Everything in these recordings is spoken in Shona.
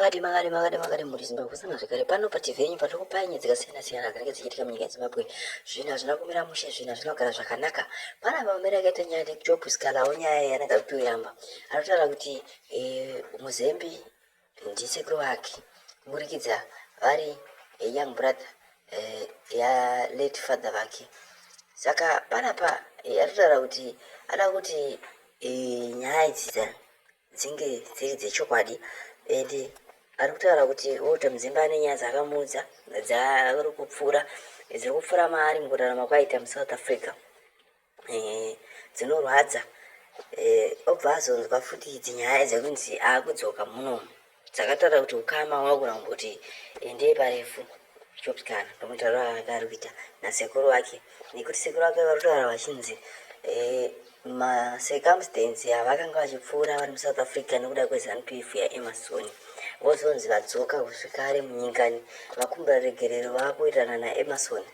makadi makadi makadi makadi muri zimbabwe sanga zvekare pano patv yenyu patiri kupai nyaya dzakasiyana siyana dzinenge dzichiitika munyika yezimbabwe zvinhu hazvina kumira mushe zvinhu hazvina kugara zvakanaka pana vamamere akaita nyaya nejob sikalawo nyaya yanenge akutoyamba anotaura kuti eh, muzembi ndisekuru wake kuburikidza vari eh, young brother eh, yalate father vake saka panapa anotaura kuti ada kuti nyaya idzi dzinge dziri dzechokwadi and ari kutaura kuti Walter Mzimba ane nyaya dzakamuudza dzaari kupfuura dziri kupfuura maari mukurarama kwaita muSouth Africa eh, dzinorwadza eh, obva azonzwa futi idzi nyaya dzekunzi akudzoka munomu dzakatara kuti ukama wakura kumbuti endei parefu chopikana ndomutaura ake ari kuita nasekuru wake nekuti sekuru wake vari kutaura vachinzi eh, macircumstance avakanga vachipfuura vari musouth africa nekuda kwezanup f yaemasoni vozonzi vadzoka kusvikare munyikani vakumbira regerero vakuitana naemason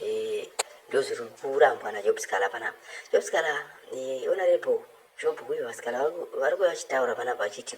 eh, ndozviri kurambwa najobskala panapa jobskala eh, onarebo job uyo vasikana vari kuva vachitaura panapa vachiti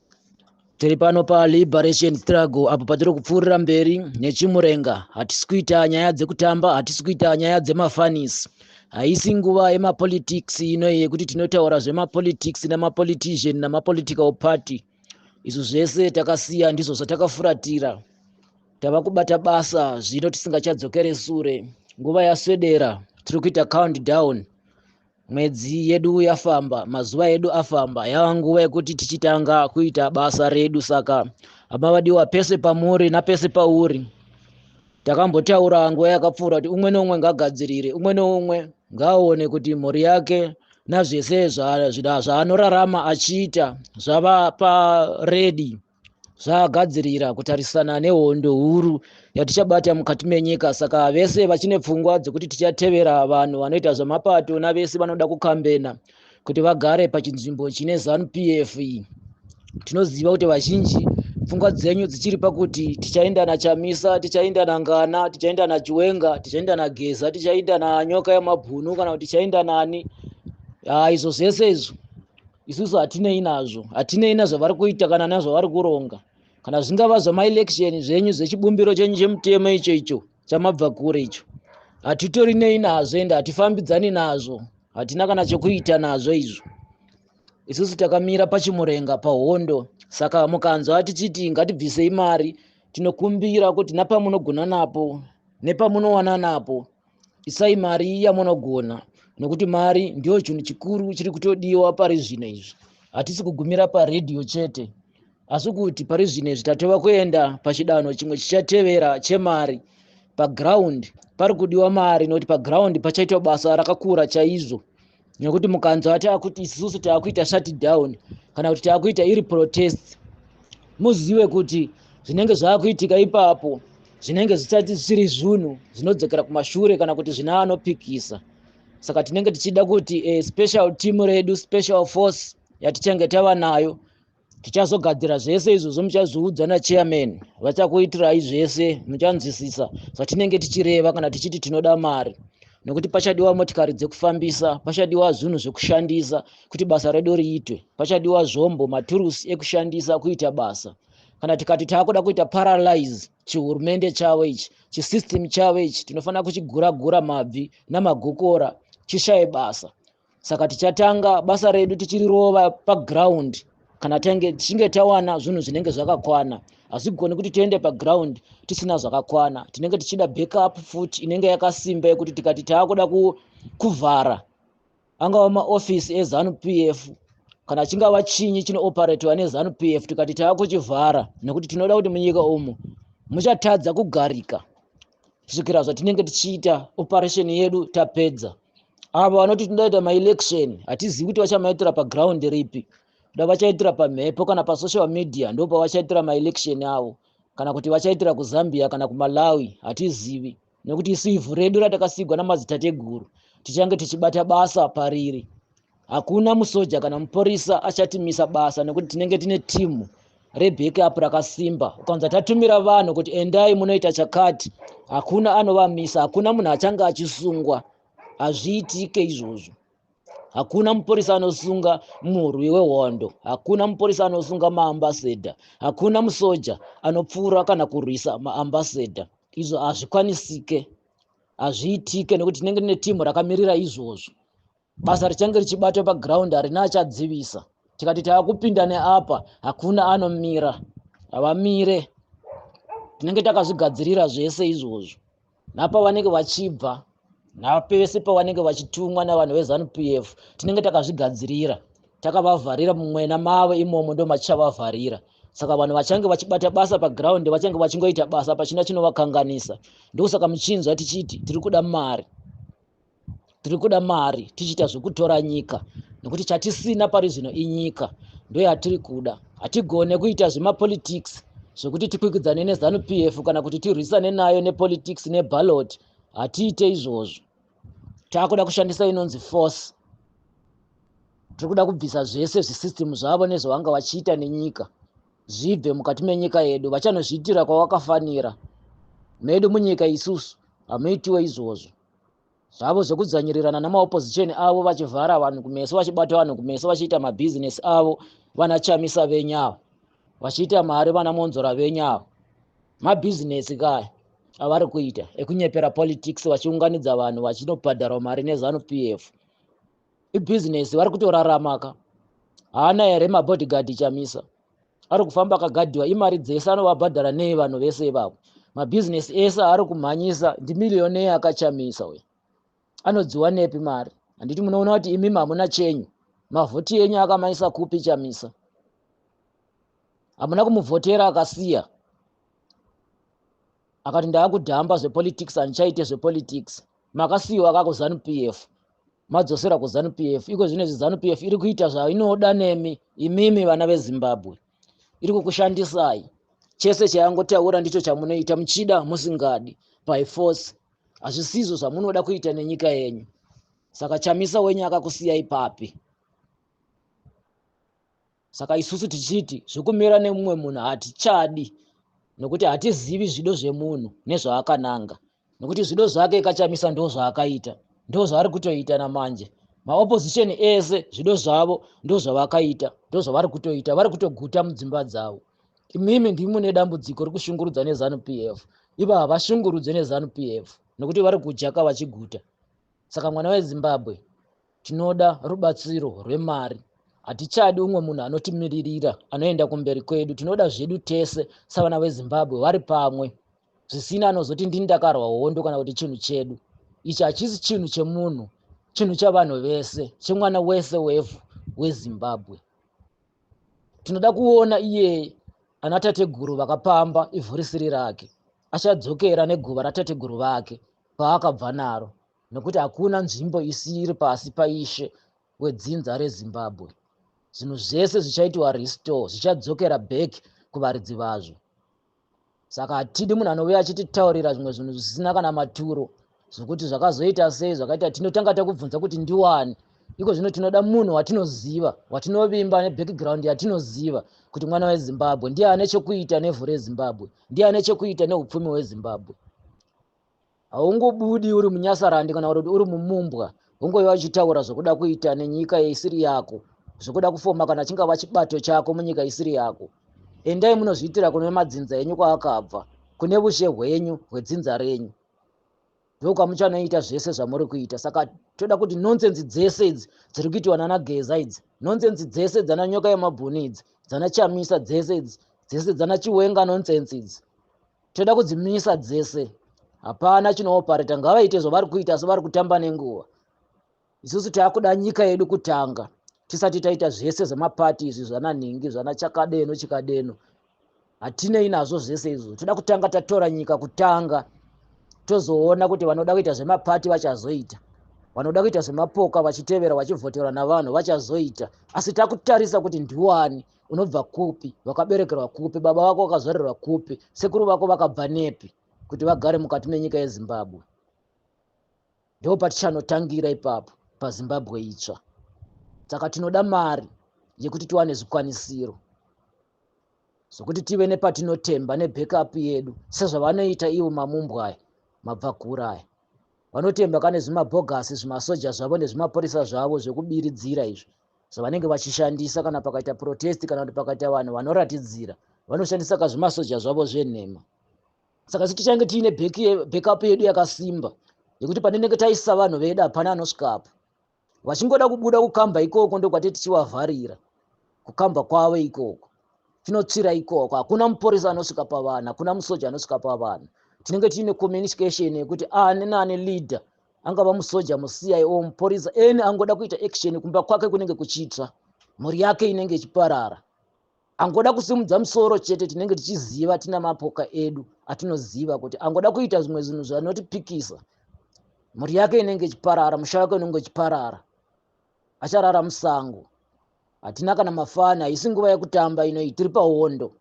tiri pano paliberation struggle apo patiri kupfuurira mberi nechimurenga hatisi kuita nyaya dzekutamba hatisi kuita nyaya dzemafanis haisi nguva yemapolitics ino yekuti tinotaura zvemapolitics nemapolitician nemapolitical party izvo zvese takasiya ndizvo zvatakafuratira tava kubata basa zvino tisingachadzokere sure nguva yaswedera tiri kuita countdown Mwedzi yedu yafamba, mazuva edu afamba, yava nguva yekuti tichitanga kuita basa redu. Saka hama vadiwa, pese pamuri napese pauri, takambotaura nguva yakapfuura kuti umwe neumwe ngagadzirire, umwe neumwe ngaaone kuti mhuri yake nazvese zvaanorarama achiita zvava paredi. zvaagadzirira kutarisana nehondo huru yatichabata mukati menyika saka vese vachine pfungwa dzekuti tichatevera vanhu vanoita zvemapato navese vanoda kukambena kuti vagare pachinzvimbo chine zanu p f tinoziva kuti vazhinji pfungwa dzenyu dzichiri pakuti tichaenda nachamisa tichaenda nangana tichaenda nachiwenga tichaenda nageza tichaenda nanyoka yamabhunu kana kuti tichaenda nani ah, izvo zvese izvo isusu hatinei nazvo hatinei nazvavari kuita kana nazvavari kuronga kana zvingava zvamaelection zvenyu zvechibumbiro chenyu chemutemo icho icho chamabva kure icho hatitori nei nazvo ende hatifambidzani nazvo hatina kana chokuita nazvo izvo isusu takamira pachimurenga pahondo saka mukanzwa tichiti ngatibvisei mari tinokumbira kuti napamunogona napo nepamunowana napo isai mari yamunogona nokuti mari ndiyo chinhu chikuru chiri kutodiwa pari zvino izvi hatisi kugumira paredhiyo chete asi kuti pari zvino izvi tatova kuenda pachidanho chimwe chichatevera chemari paground pari kudiwa mari nokuti paground pachaitwa basa rakakura chaizvo nekuti mukanzwa taakuti isusu taakuita shutdown kana kuti taakuita iri protest muzive kuti zvinenge zvaakuitika ipapo zvinenge zvisati zvisiri zvunhu zvinodzokera kumashure kana kuti zvina anopikisa saka tinenge tichida kuti e, special team redu special force yatichange tava nayo tichazogadzira zvese izvozvo muchazviudzwa nachairman vachakuitirai zvese muchanzwisisa zvatinenge tichireva kana tichiti tinoda mari nokuti pachadiwa motikari dzekufambisa pachadiwa zvinhu zvekushandisa kuti basa redu riitwe pachadiwa zvombo maturusi ekushandisa kuita basa kana tikati taakuda kuita paralyze chihurumende chavo ichi chisystem chavo ichi tinofanira kuchigura gura mabvi namagokora chishaye basa saka tichatanga basa redu tichirirova paground kana tange tichinge tawana zvinhu zvinenge zvakakwana hazvigoni kuti tiende paground tisina zvakakwana tinenge tichida backup futi inenge yakasimba yekuti tikati taakuda kuvhara angava maofisi ezanu p f kana chingava chinyi chinooperatwa nezanu p f tikati taakuchivhara nekuti tinoda kuti munyika umu muchatadza kugarika kusvikira zvatinenge tichiita operation yedu tapedza avo vanoti tindaita maelection hatizivi kuti vachamaitira paground ripi da vachaitira pamhepo kana pasocial media ndo pavachaitira maelection avo kana kuti vachaitira kuzambia kana kumalawi hatizivi nekuti isu ivhu redu ratakasigwa namadzitateguru tichange tichibata basa pariri hakuna musoja kana muporisa achatimisa basa nekuti tinenge tine timu reback up rakasimba ukanza tatumira vanhu kuti endai munoita chakati hakuna anovamisa hakuna munhu achange achisungwa hazviitike izvozvo hakuna muporisa anosunga murwi wehondo hakuna muporisa anosunga maambasadha hakuna musoja anopfuura kana kurwisa maambasadha izvo hazvikwanisike hazviitike nekuti tinenge tine timu rakamirira izvozvo basa richange richibatwa paground harina achadzivisa tikati tava kupinda neapa hakuna anomira havamire tinenge takazvigadzirira zvese izvozvo napa vanenge vachibva napese pavanenge vachitumwa navanhu vezanup f tinenge takazvigadzirira takavavharira mumwena mavo imomo ndo matichavavharira saka vanhu vachange vachibata basa paground vachange vachingoita basa pachina chinovakanganisa ndokusaka muchinzwa tichiti tiri kuda mari tiri kuda mari tichiita zvekutora nyika nekuti chatisina pari zvino inyika ndoyatiri kuda hatigone kuita zvemapolitics zvekuti tikwikwidzane nezanu p f kana kuti tirwisane nayo nepolitics nebalot hatiite izvozvo taakuda kushandisa inonzi force tiri kuda kubvisa zvese zvisystem zvavo nezvavanga vachiita nenyika zvibve mukati menyika yedu vachanozviitira kwavakafanira medu munyika isusu hamuitiwo izvozvo zvavo zvekudzvanyirirana namaopposition avo vachivhara vanhu kumeso vachibata vanhu kumeso vachiita mabhizinesi avo vana chamisa venyu avo vachiita mari vana monzora venyu avo mabhizinesi kaya avari kuita ekunyepera politics vachiunganidza vanhu vachinobhadharwa mari nezanu p f ibhizinesi vari kutoraramaka haana here mabodyguard chamisa ari kufamba akagadhiwa imari dzese anovabhadhara nei vanhu vese ivavo mabhizinesi ese aari kumhanyisa ndimiliyonei akachamisa uyo anodziwa nepi mari handiti munoona kuti imimi hamuna chenyu mavhoti enyu akamanyisa kupi chamisa hamuna kumuvhotera akasiya akati ndaakudhamba zvepolitics handichaite zvepolitics makasiyiwa kakuzanu p f madzosera kuzanu p f iko zvino izvi zanu p f iri kuita zvainoda nemi imimi vana vezimbabwe iri kukushandisai chese chayangotaura ndicho chamunoita muchida musingadi by force hazvisizvo zvamunoda kuita nenyika yenyu saka chamisa wenyu akakusiyai papi saka isusu tichiti zvekumira nemumwe munhu hatichadi nokuti hatizivi zvido zvemunhu nezvaakananga nokuti zvido zvake kachamisa ndo zvaakaita ndo zvaari kutoita namanje maopposition ese zvido zvavo ndo zvavakaita ndo zvavari kutoita vari kutoguta mudzimba dzavo imimi ndimi mune dambudziko rekushungurudza nezanu p f ivo havashungurudze nezanu p f nokuti vari kujaka vachiguta saka mwana wezimbabwe Tinoda rubatsiro rwemari. Hatichadi umwe munhu anotimiririra anoenda kumberi kwedu. Tinoda zvedu tese savana veZimbabwe vari pamwe. Zvisina anozoti ndini ndakarwa hondo kana kuti chinhu chedu. Ichi hachisi chinhu chemunhu, chinhu chavanhu vese, chemwana wese wevhu weZimbabwe. Tinoda kuona iye ana tateguru vakapamba ivhu risiri rake. Achadzokera neguva ratateguru vake paakabva naro. nokuti hakuna nzvimbo isiri pasi paishe wedzinza rezimbabwe zvinhu zvese zvichaitiwa restore zvichadzokera back kuvaridzi vazvo saka hatidi munhu anove achititaurira zvimwe zvinhu zvisina kana maturo zvokuti zvakazoita sei zvakaita tinotanga takubvunza kuti ndiwani iko zvino tinoda munhu watinoziva watinovimba nebackground yatinoziva kuti mwana wezimbabwe ndiye ane chekuita nevhu rezimbabwe ndiye ane chekuita neupfumi hwezimbabwe haungobudi uri munyasarandi kana kuti uri mumumbwa ungove vachitaura zvokuda kuita nenyika isiri yako zvokuda kufoma kana chingava chibato chako munyika isiri yako endai munozviitira kune madzinza enyu kwaakabva kune vushe hwenyu hwedzinza renyu ndokwamuchanoita zvese zvamuri kuita saka toda kuti nonsense dzese idzi dziri kuitiwa nana geza idzi nonsense dzese dzana nyoka yemabhuni idzi dzana chamisa dzese idzi dzese dzana chiwenga nonsense idzi toda kudzimisa dzese hapana chinoopareta ngavaite zvavari kuita asi vari kutamba nenguva isusu taakuda nyika yedu kutanga tisati taita zvese zvemapati izvi zvananhingi zvana chakadeno chikadeno hatinei nazvo zvese izvo toda kutanga tatora nyika kutanga tozoona kuti vanoda kuita zvemapati vachazoita vanoda kuita zvemapoka vachitevera vachivhoterwa navanhu vachazoita asi takutarisa kuti ndiwani unobva kupi wakaberekerwa kupi baba vako vakazvarirwa kupi sekuru vako vakabva nepi kuti vagare mukati menyika yezimbabwe ndo patichanotangira ipapo pazimbabwe itsva saka tinoda mari yekuti tiwane zvikwanisiro zvokuti tive nepatinotemba nebackup yedu sezvavanoita ivo mamumbwaya mabvakuuraya vanotemba kane zvimabhogasi zvimasoja zvavo nezvimapurisa zvavo zvekubiridzira izvi so vanenge vachishandisa kana pakaita protest kana kuti pakaita vanhu vanoratidzira vanoshandisa kazvimasoja zvavo zvenhema saka sitichange tiine backup yedu yakasimba yekuti panenenge taisa vanhu vedu hapana anosvikapo vachingoda kubuda kukamba ikoko ndokwati tichivavharira kukamba kwavo ikoko tinotsvira ikoko hakuna muporisa anosvika pavanhu hakuna musoja anosvika pavanhu tinenge tiine communication yekuti ani nani leader angava musoja mucii or mupurisa any angoda kuita action kumba kwake kunenge kuchitsva mhuri yake inenge ichiparara angoda kusimudza musoro chete tinenge tichiziva tina mapoka edu atinoziva kuti angoda kuita zvimwe zvinhu zvanotipikisa mhuri yake inenge ichiparara musha wake unenge uchiparara acharara musango hatina kana mafani haisi nguva yekutamba inoi tiri pahondo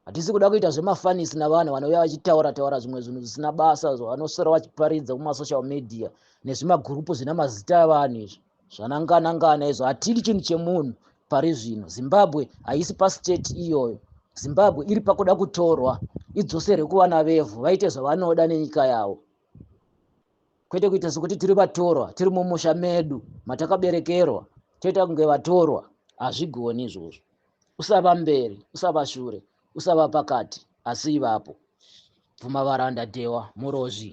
hatisi kuda kuita zvemafanisi navanhu vanouya vachitaura taura zvimwe zvinhu zvisina basa zvavanosora vachiparidza kumasocial media nezvimagurupu zvina mazita avanhu izvi zvananganangana izvo hatidi chinhu chemunhu pari zvino zimbabwe haisi pastate iyoyo zimbabwe iri pakuda kutorwa idzoserwe kuvana vevhu vaite zvavanoda nenyika yavo kwete kuita sekuti tiri vatorwa tiri mumusha medu matakaberekerwa toita kunge vatorwa hazvigoni izvozvo usava mberi usava shure usava pakati asi ivapo bvuma varanda dhewa murozvi